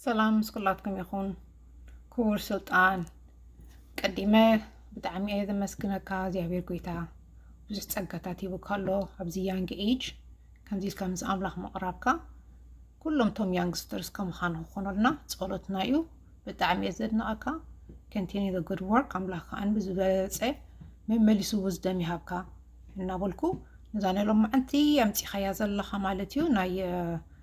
ሰላም ምስ ኩላትኩም ይኹን ክቡር ስልጣን ቀዲመ ብጣዕሚ እየ ዘመስግነካ እግዚኣብሔር ጎይታ ብዙሕ ጸጋታት ሂቡካ ኣሎ ኣብዚ ያንግ ኤጅ ከምዚ ኢልካ ምስ ኣምላኽ ምቕራብካ ኩሎም ቶም ያንግስተርስ ከምዃን ክኾነልና ጸሎትና እዩ ብጣዕሚ እየ ዘድንቐካ ከንቲኒ ዘ ጉድ ወርክ ኣምላኽ ከዓን ብዝበለፀ መመሊሱ ውዝደም ይሃብካ እናበልኩ ነዛ ናይ ሎማዓንቲ ኣምፂኻያ ዘለኻ ማለት እዩ ናይ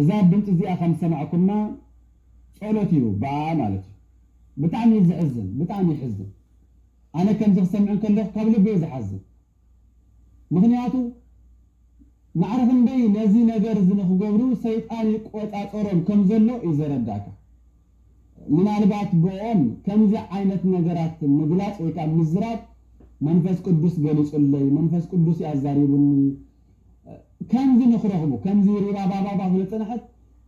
እዛ ድምጺ እዚኣ ከም ዝሰማዕኩማ ጸሎት እዩ ብኣኣ ማለት እዩ ብጣዕሚ እዩ ዘሕዝን ብጣዕሚ የሕዝን ኣነ ከምዚ ክሰምዕ እንከለኩ ካብ ልበይ እዩ ዝሓዝን። ምኽንያቱ ማዕረ ክንደይ ነዚ ነገር እዚ ንኽገብሩ ሰይጣን ይቆጻጸሮም ከም ዘሎ እዩ ዘረድኣካ። ምናልባት ብእኦም ከምዚ ዓይነት ነገራት ምግላጽ ወይ ከኣ ምዝራብ መንፈስ ቅዱስ ገሊጹለይ፣ መንፈስ ቅዱስ እዩ ኣዛሪቡኒ፣ ከምዚ ንኽረኽቡ ከምዚ ሪባባባባ ክንጥንሕት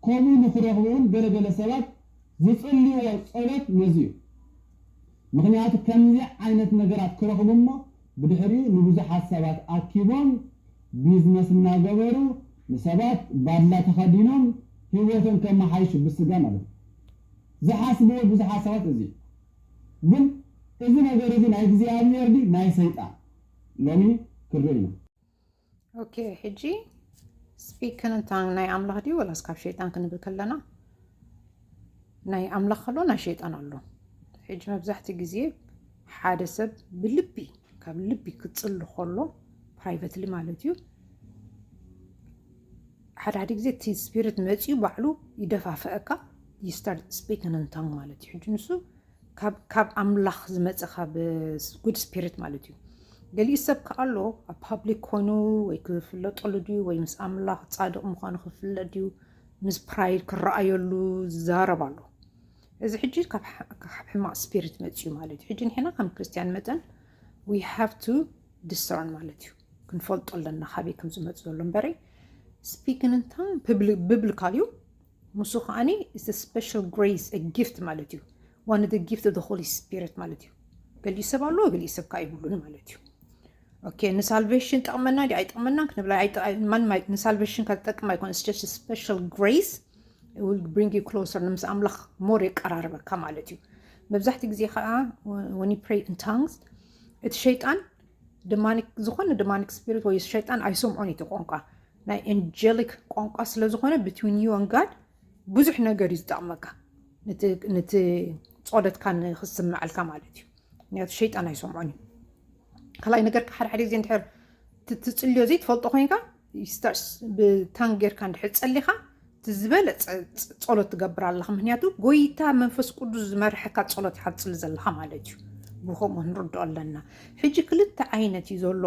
ከምኡ ንኽረኽቡ እውን ገለ ገለ ሰባት ዝጽልይዎ ጸሎት ነዚ እዩ። ምኽንያቱ ከምዚ ዓይነት ነገራት ክረኽቡ እሞ ብድሕሪኡ ንብዙሓት ሰባት ኣኪቦም ቢዝነስ እናገበሩ ንሰባት ባድላ ተኸዲኖም ሂወቶም ከመሓይሹ ብስጋ ማለት እዩ ዝሓስብዎ ብዙሓት ሰባት እዚ እዩ ግን እዚ ነገር እዚ ናይ እግዚኣብሄር ድዩ ናይ ሰይጣን ሎሚ ክንርኢ ኢና። ኦኬ ሕጂ ስፒክ ክንታን ናይ ኣምላኽ ድዩ ወላስ ካብ ሸይጣን ክንብል ከለና ናይ ኣምላኽ ኣሎ ናይ ሸይጣን ኣሎ ሕጂ መብዛሕትኡ ግዜ ሓደ ሰብ ብልቢ ካብ ልቢ ክፅሉ ከሎ ፕራይቨትሊ ማለት እዩ ሓደ ሓደ ግዜ እቲ ስፒሪት መፅኡ ባዕሉ ይደፋፍአካ ይስታርት ስፒክን እንታን ማለት እዩ ሕጂ ንሱ ካብ ኣምላኽ ዝመፀ ካብ ጉድ ስፒሪት ማለት እዩ ገሊኡ ሰብ ከዓ ኣሎ ኣብ ፓብሊክ ኮይኑ ወይ ክፍለጠሉ ድዩ ወይ ምስ ኣምላኽ ፃድቕ ምዃኑ ክፍለጥ ድዩ ምስ ፕራይድ ክረኣየሉ ዝዛረብ ኣሎ እዚ ሕጂ ካብ ሕማቅ ስፒሪት መፅዩ ማለት እዩ ሕጂ ንሕና ከም ክርስትያን መጠን ዊ ሃቭ ቱ ዲሰርን ማለት እዩ ክንፈልጦ ኣለና ካበይ ከም ዝመፅ ዘሎ እምበረይ ስፒክን እንታ ብብልካል እዩ ንሱ ከዓኒ ኢትስ አ ስፔሻል ግሬስ አ ጊፍት ማለት እዩ ዋን ኦፍ ጊፍት ኦፍ ሆሊ ስፒሪት ማለት እዩ ገሊኡ ሰብ ኣለዎ ገሊኡ ሰብ ከዓ ይብሉን ማለት እዩ ኦኬ ንሳልቬሽን ጠቕመና ዲ ኣይጠቕመናን ክንብላ ማንም ንሳልቬሽን ከጠቅም ኣይኮነ ስቸስ ስፔሻል ግሬስ ዊል ብሪንግ ዩ ክሎሰር ንምስ ኣምላኽ ሞር የቀራርበካ ማለት እዩ መብዛሕትኡ ግዜ ከዓ ወኒ ፕሬ ን ታንግስ እቲ ሸይጣን ድማኒክ ዝኾነ ድማኒክ ስፒሪት ወይ ሸይጣን ኣይሰምዖን እዩ እቲ ቋንቋ ናይ ኤንጀሊክ ቋንቋ ስለ ዝኾነ ብትዊን ዩ ን ጋድ ብዙሕ ነገር እዩ ዝጠቕመካ ነቲ ፆለትካ ንክስምዐልካ ማለት እዩ ምክንያቱ ሸይጣን ኣይሰምዖን እዩ ካልኣይ ነገር ሓደ ሓደ ግዜ እንድሕር ትፅልዮ ዘይትፈልጦ ኮይንካ ይስተርስ ብታን ጌርካ እንድሕር ፀሊኻ ዝበለፀ ፀሎት ትገብር ኣለኻ ምክንያቱ ጎይታ መንፈስ ቅዱስ ዝመርሐካ ፀሎት ኢኻ ትፅሊ ዘለኻ ማለት እዩ ብከምኡ ንርድኦ ኣለና ሕጂ ክልተ ዓይነት እዩ ዘሎ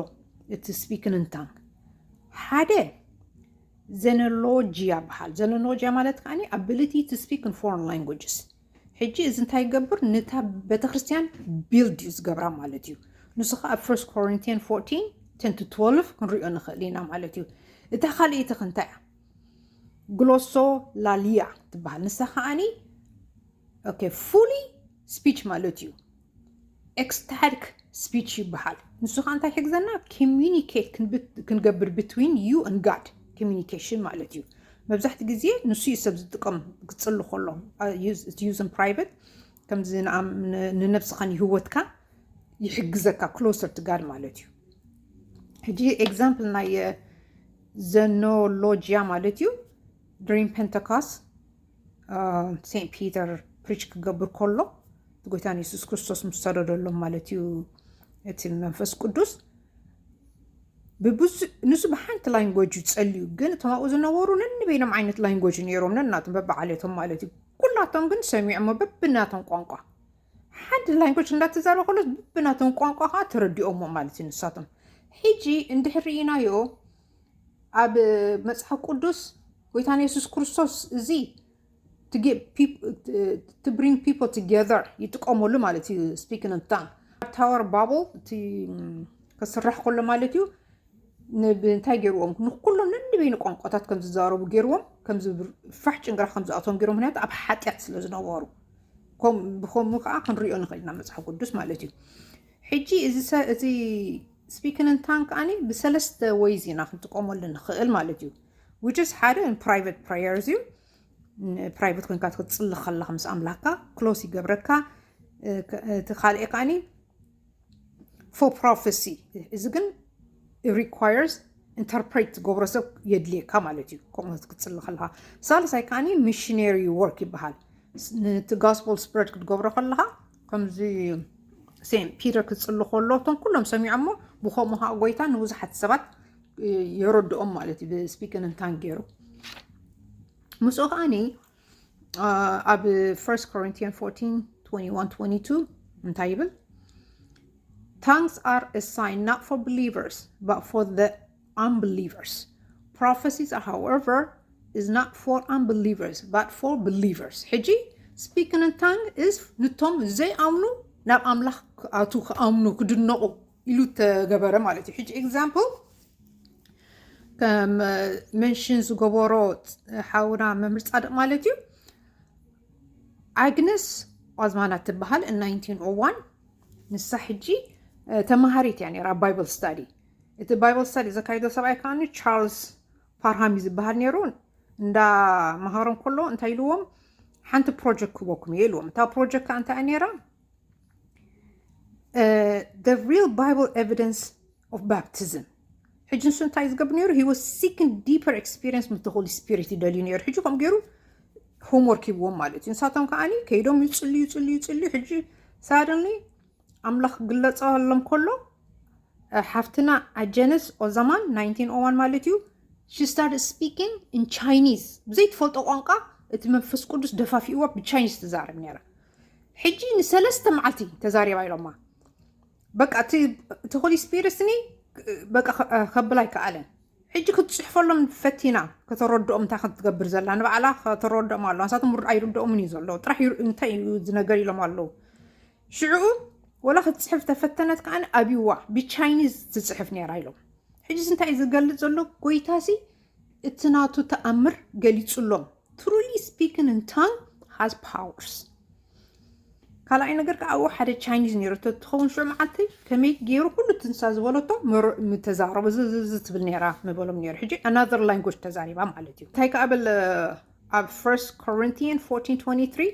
እቲ ስፒክን እንታን ሓደ ዘነሎጂያ በሃል ዘነሎጂያ ማለት ከዓኒ ኣቢሊቲ ቱ ስፒክ ን ፎረን ላንጉጅስ ሕጂ እዚ እንታይ ይገብር ንታ ቤተክርስትያን ቢልድ እዩ ዝገብራ ማለት እዩ ንሱ ከዓ ኣብ ፈርስት ኮሪንቲያን 14 10 to 12 ክንሪኦ ንኽእል ኢና ማለት እዩ እታ ካልእይቲ ክንታይ እያ ግሎሶ ላሊያ ትበሃል ንሳ ከዓኒ ኦኬ ፉሊ ስፒች ማለት እዩ ኤክስታቲክ ስፒች ይበሃል። ንሱ ከዓ እንታይ ይሕግዘና? ኮሚኒኬት ክንገብር ብትዊን ዩ ን ጋድ ኮሚኒኬሽን ማለት እዩ። መብዛሕቲ ግዜ ንሱ ዩ ሰብ ዝጥቀም ክፅሊ ከሎ እቲ ዩዝን ፕራይቨት ከምዚ ንነብስኻ ንህወትካ ይሕግዘካ ክሎሰር ቱ ጋድ ማለት እዩ። ሕጂ ኤግዛምፕል ናይ ዘኖሎጂያ ማለት እዩ ድሪም ፔንተካስ ሴንት ፒተር ፕሪች ክገብር ከሎ እቲ ጎይታ ንየሱስ ክርስቶስ ምስ ሰደደሎም ማለት እዩ እቲ መንፈስ ቅዱስ ንሱ ብሓንቲ ላንጎጅ እዩ ጸልዩ ግን እቶም ኣብኡ ዝነበሩ ነንበይኖም ዓይነት ላንጎጅ ነይሮም ነናቶም በብዓሌቶም ማለት እዩ ኩላቶም ግን ሰሚዖሞ በብናቶም ቋንቋ ሓንቲ ላንጎጅ እንዳተዛረበ ከሎ በብናቶም ቋንቋ ከዓ ተረዲኦሞ ማለት እዩ ንሳቶም ሕጂ እንድሕር ርኢናዮ ኣብ መጽሓፍ ቅዱስ ጎይታን የሱስ ክርስቶስ እዚ ብሪንግ ፒፕ ቱገር ይጥቀመሉ ማለት እዩ ስፒክን ታን ታወር ባብል እቲ ክስራሕ ከሎ ማለት እዩ እንታይ ገይርዎም ንኩሎም ነንበይኑ ቋንቋታት ከም ዝዛረቡ ገይርዎም ከምዚ ፋሕ ጭንግራ ከም ዝኣቶም ገይሮም ምክንያቱ ኣብ ሓጢኣት ስለ ዝነበሩ ብከምኡ ከዓ ክንሪኦ ንኽእል ኢና መፅሓፍ ቅዱስ ማለት እዩ ሕጂ እዚ ስፒክን እንታን ከኣኒ ብሰለስተ ወይዝ ኢና ክንጥቀመሉ ንኽእል ማለት እዩ which is ሓደ ፕራይቨት ፕራየርስ እዩ ፕራይቨት ኮንካ ክትፅሊ ከለካ ምስ ኣምላክካ ክሎስ ይገብረካ እቲ ካልእ ከዓኒ ፎር ፕሮፌሲ እዚ ግን ሪኳየርስ ኢንተርፕሬት ዝገብሮ ሰብ የድልየካ ማለት እዩ ከምኡ ክትፅሊ ከለካ ሳልሳይ ከዓኒ ሚሽነሪ ወርክ ይበሃል ነቲ ጋስፖል ስፕረድ ክትገብሮ ከለካ ከምዚ ሴንት ፒተር ክጽሊ ከሎ እቶም ኩሎም ሰሚዖሞ ብከምኡ ከዓ ጎይታ ንብዙሓት ሰባት የረድኦም ማለት እዩ ብስፒክን እንታን ገይሩ ምስኡ ከዓኒ ኣብ 1 ኮሪንቲያን 14 21 22 እንታይ ይብል ታንክስ ኣር ሳይን ናት ፎር ብሊቨርስ ባት ፎር ኣምብሊቨርስ ፕሮፈሲስ ኣር ሃውኤቨር ኢዝ ናት ፎር ኣምብሊቨርስ ባት ፎር ብሊቨርስ ሕጂ ስፒክን ን ታንግ ኢዝ ንቶም ዘይኣምኑ ናብ ኣምላኽ ክኣቱ ክኣምኑ ክድነቑ ኢሉ ተገበረ ማለት እዩ ሕጂ ኤግዛምፕል ከም መንሽን ዝገበሮ ሓውና መምህር ፃድቕ ማለት እዩ ኣግነስ ኦዝማና ትበሃል ን 1901 ንሳ ሕጂ ተምሃሪት እያ ነራ ባይብል ስታዲ እቲ ባይብል ስተዲ ዘካይዶ ሰብኣይ ከዓኒ ቻርልስ ፓርሃም እዩ ዝበሃል ነይሩ እንዳ መሃሮም ከሎ እንታይ ኢልዎም ሓንቲ ፕሮጀክት ክበኩም እየ ኢልዎም እታ ፕሮጀክት ከዓ እንታይ እያ ነይራ the real bible evidence of baptism ሕጂ ንሱ እንታይ እዩ ዝገብር ነይሩ he was seeking deeper experience ምስ the holy spirit ይደልዩ ነይሩ ሕጂ ከምኡ ገይሩ ሆምወርክ ሂብዎም ማለት እዩ ንሳቶም ከዓኒ ከይዶም ይፅልዩ ይፅልዩ ይፅልዩ ሕጂ ሳደንሊ ኣምላኽ ክግለጸሎም ከሎ ሓፍትና ኣጀንስ ኦዛማን 1901 ማለት እዩ ሺ ስታርት ስፒኪንግ ን ቻይኒዝ ብዘይትፈልጦ ቋንቋ እቲ መንፈስ ቅዱስ ደፋፊእዋ ብቻይኒዝ ትዛረብ ነይራ ሕጂ ንሰለስተ መዓልቲ ተዛሪባ ኢሎማ በቃ እቲ እቲ ሆሊ ስፒሪትኒ በቃ ከ- እ፣ ከብል ኣይከኣለን ሕጂ ክትፅሕፈሎም ፈቲና ከተረድኦም እንታይ ከም ትገብር ዘላ ንባዕላ ከተረድኦም ኣለዋ ንሳቶም ር- ኣይርድኦምን እዩ ዘሎ ጥራሕ ይር- እንታይ እዩ እዚ ነገር ኢሎም ኣለዉ ሽዕኡ ወላ ክትፅሕፍ ተፈተነት ከዓኒ ኣብይዋ ብቻይኒዝ ትፅሕፍ ነይራ ኢሎም ሕጂስ እንታይ እዩ ዝገልፅ ዘሎ ጎይታሲ እቲ ናቱ ተኣምር ገሊፁሎም ትሩሊ ስፒክን ን ታንግ ሃዝ ፓወርስ ካልኣይ ነገር ከዓ ኣብኡ ሓደ ቻይኒዝ ነይረቶ እትኸውን ሽዑ መዓልቲ ከመይ ገይሩ ኩሉ ትንሳ ዝበለቶ ምተዛረቡ ዝዝዝ ትብል ነይራ ምበሎም ነይሩ ሕጂ ኣናዘር ላንጉጅ ተዛሪባ ማለት እዩ እንታይ ከዓ በል ኣብ ፈርስት ኮሪንቲያን 1423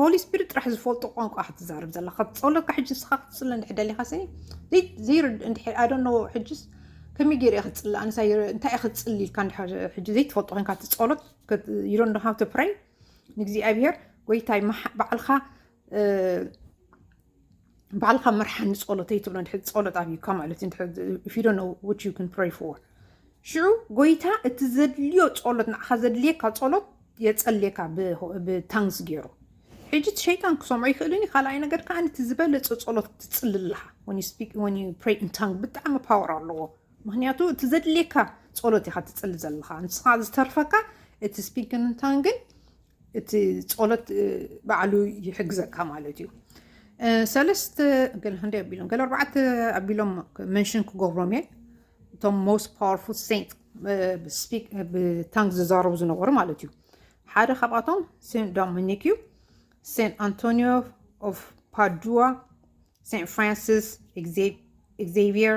ሆሊ ስፒሪት ጥራሕ ዝፈልጦ ቋንቋ ክትዛረብ ዘለካ ጸሎካ ሕጂ ንስኻ ክትጽለ እንድሕር ደሊኻ ስኒ ዘይርድ እንድሕር ኣይ ዶንት ኖ ሕጂስ ከመይ ገይረ እየ ክጽሊ ኣነስ እንታይ እየ ክትጽሊ ኢልካ እንድሕር ሕጂ ዘይትፈልጦ ኮንካ እቲ ጸሎት ዩ ዶንት ኖ ሃው ቱ ፕሬይ ንእግዚኣብሄር ጎይታይ በዓልካ ባዕልካ መርሓኒ ጸሎተይ ትብሎ ድሕሪ ጸሎት ኣብዩካ ማለት እዩ ዶ ነው ዊች ዩ ን ፕሬይ ፎር ሽዑ ጎይታ እቲ ዘድልዮ ጸሎት ንዓኻ ዘድልየካ ጸሎት የጸልየካ ብታንግስ ገይሩ ሕጂ እቲ ሸይጣን ክሰምዖ ይኽእልን እዩ ካልኣይ ነገር ከዓ እቲ ዝበለፀ ፀሎት ክትፅሊ ኣለካ ታንግ ብጣዕሚ ፓወር ኣለዎ ምክንያቱ እቲ ዘድልየካ ፀሎት ኢካ ትፅሊ ዘለካ ንስካ ዝተርፈካ እቲ ስፒክን ታንግን እቲ ፆሎት ባዕሉ ይሕግዘካ ማለት እዩ ሰለስተ ገለ ክንደይ ኣቢሎም ገለ ኣርባዕተ ኣቢሎም መንሽን ክገብሮም እየ እቶም ሞስት ፓወርፉል ሴንት ብታንክ ዝዛረቡ ዝነበሩ ማለት እዩ ሓደ ካብኣቶም ሴንት ዶሚኒክ እዩ ሴንት ኣንቶኒዮ ኦፍ ፓዱዋ ሴንት ፍራንሲስ ኤግዜቪየር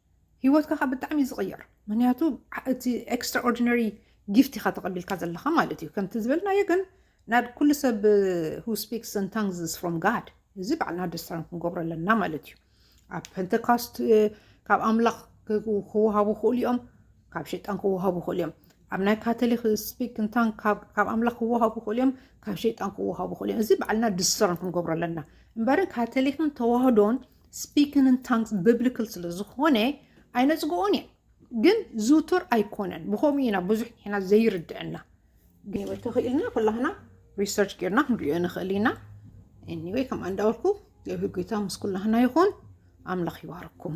ሂወትካ ከኣ ብጣዕሚ እዩ ዝቕየር ምክንያቱ እቲ ኤክስትራ ኦርዲነሪ ጊፍት ኢኻ ተቐቢልካ ዘለኻ ማለት እዩ ከምቲ ዝበልናዮ ግን ናብ ኩሉ ሰብ ሁ ስፒክስ ን ታንግስ ፍሮም ጋድ እዚ ባዕልና ኣደስታርን ክንገብሮ ኣለና ማለት እዩ ኣብ ፐንተካስት ካብ ኣምላኽ ክወሃቡ ክእሉ እዮም ካብ ሸጣን ክወሃቡ ክእሉ እዮም ኣብ ናይ ካቶሊክ ስፒክ እንታን ካብ ኣምላኽ ክወሃቡ ክእሉ እዮም ካብ ሸይጣን ክወሃቡ ክእሉ እዮም እዚ ባዕልና ድሰርን ክንገብሮ ኣለና እምበርን ካቶሊክን ተዋህዶን Speaking in tongues biblical ስለ ዝኾነ ኣይነጽግኦን እየ ግን ዝውቱር ኣይኮነን ብኸምኡ ኢና ብዙሕ ንሕና ዘይርድአና ግን ወይ ተኽኢልና ኩላህና ሪሰርች ጌርና ክንሪኦ ንኽእል ኢና ኤኒወይ ከምኣ እንዳበልኩ የብሂ ጎይታ ምስ ኩላህና ይኹን ኣምላኽ ይባርኩም